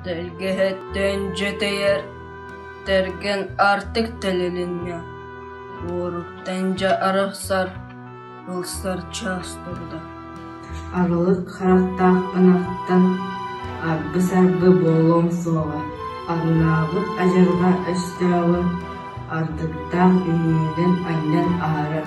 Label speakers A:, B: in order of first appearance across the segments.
A: Тэлгэһэттэн дьэтийэр тэргэн артык тэлилиннэ, уоруттан дьэ арахсар ылсар чаас турда.
B: Арылык хааттаах ынахтан арбы-сарбы буолуон суоҕа, арынаабыт адьырҕа өстөөҕү ардыктаах иһиинэн анньан аһарар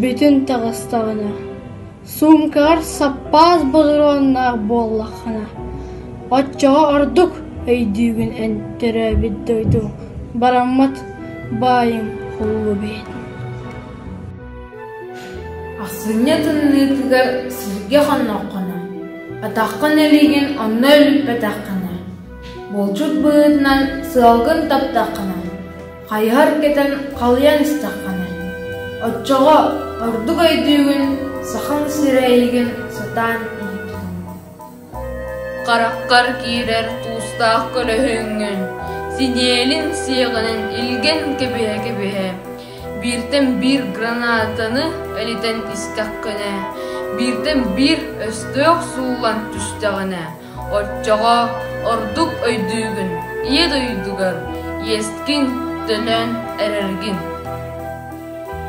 C: Бүтүн таҕыстаҕына, суумкаҕар саппаас бодоруоннаах буоллаххына, оччоҕо ордук өйдүүгүн эн төрөөбүт дойдуҥ бараммат баайыҥ холуо бэйэтин
D: Ахсынньы тымныытыгар сиргэ-хонноххуна, атаххын илиигин онно үлүппэтэххинэ, булчут быһыытынан сыалгын таптаххына, Хайыһар кэтэн халыйан истэххинэ, оччоҕо ордук өйдүүгүн, сахаҥ сирэйигин сатаан иһиттиҥ Хараххар
A: киирэр туустаах көлөһүҥҥүн, синиэлин сиэҕинэн илгэн кэбиһэ-кэбиһэ, бииртэн биир гранатаны элитэн истэххинэ, бииртэн биир өстөөх сууллан түстэҕинэ, Оччоҕо ордук өйдүүгүн, ийэ дойдугар иэскин төлөөн эрэргин.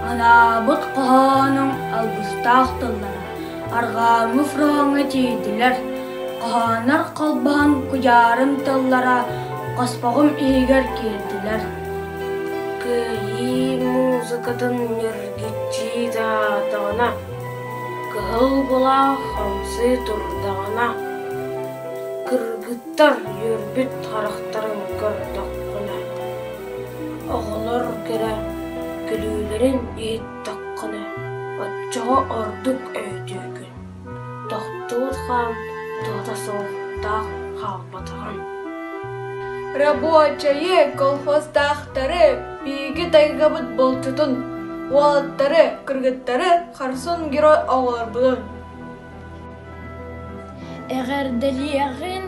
C: Анаабыт хоһоонуҥ алгыстаах тыллара арҕааҥҥы фроҥҥа тиийдилэр. Хоһоонор холбоһон кудьаарын тыллара хоспоҕум иһигэр киирдилэр. Кыайыы музыкатын ньиргиччи таатаҕына Кыһыл былаас хамсыы турдаҕына, кыргыттар үөрбүт харахтарын көрдөххүнэ, оҕолор кэрэ күлүүлэрин иһиттэххинэ, оччоҕо ордук өйдүүгүн, тохтуур хаан туһата суохтаах хаалбатаҕын. Рабочайы, колхоздаахтары Биһиги тайгабыт булчутун, уолаттары, кыргыттары харсын герой оҕолорбутун
E: эҕэрдэлиэҕин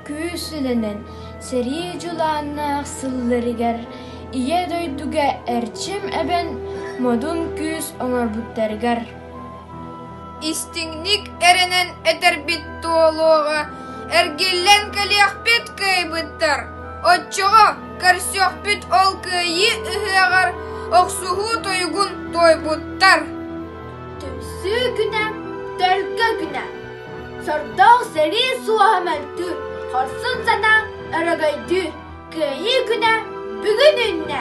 E: күүсүнэн сэрии дьулааннаах сылларыгар Ийэ дойдуга Эрчим эбэн модун күүс оҥорбуттарыгар Истиҥник
F: эрэнэн этэрбит туолуоҕа, эргиллэн кэлиэхпит кыайбыттар, оччоҕо көрсүөхпүт ол кыайыы ыһыаҕар охсуһуу туйгун туойбуттар.
E: Түмсүү күнэ, төлкө күнэ. Сордоох сэрии суоһа мөлтүүр, хорсун сатаа өрөгөйдүүр, кыайыы күнэ бүгүн үннэ.